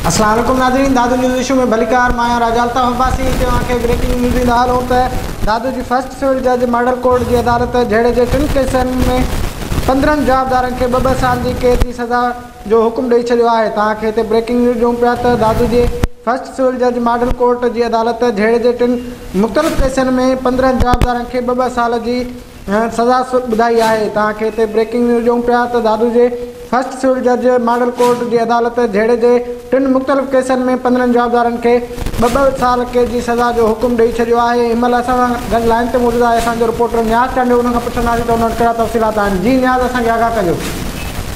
السلام عليڪم ناظرين دادو نيوز ايشو ۾ ڀليڪار مان آهيان راجا الطاف عباسي هتي اوهان کي بريڪنگ نيوز ڏيندا هلون ته دادو جي فرسٽ سول جج ماڊل ڪورٽ جي عدالت جهيڙي جي ٽن ڪيسن ۾ پندرهن جوابدارن کي ٻه ٻه سال جي قيد جي سزا جو حڪم ڏئي ڇڏيو آهي ته اوهان کي هتي بريڪنگ نيوز ڏيون پيا ته دادو جي فرسٽ سول جج ماڊل ڪورٽ جي عدالت جهيڙي جي ٽن مختلف ڪيسن ۾ پندرهن جوابدارن کي ٻه ٻه سال جي هن سزا ٻڌائي آهي. توهان کي هتي بريڪنگ نيوز ڏيون پيا ته دادو جي فرسٽ سول جج ماڊل ڪورٽ جي عدالت جهيڙي جي ٽن مختلف ڪيسن ۾ پندرهن جوابدارن کي ٻه ٻه سال قيد جي سزا جو حڪم ڏئي ڇڏيو آهي هن مهل اسان سان گڏ لائين تي موجود آهي اسان جو رپورٽر نياز چانڊيو ان کان پڇنداسين ته ان وٽ ڪهڙا تفصيلات آهن جي نياز اسان کي آگاهه ڪجو.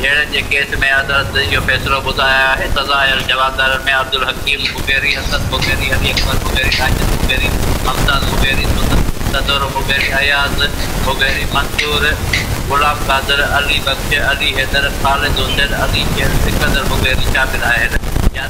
جهيڙن جي ڪيس ۾ عدالت اهو فيصلو ٻڌايو آهي ته ظاهر جوابدارن ۾ عبدالحڪيم مغيري، اسد مغيري، علي اڪبر مغيري، ساجد مغيري، ممتاز مغيري، صدور مغيري، اياز مغيري، منصور، غلام قادر، علي بخش، علي حيدر، خالد حسين، علي شير، سڪندر مغيري شامل آهن.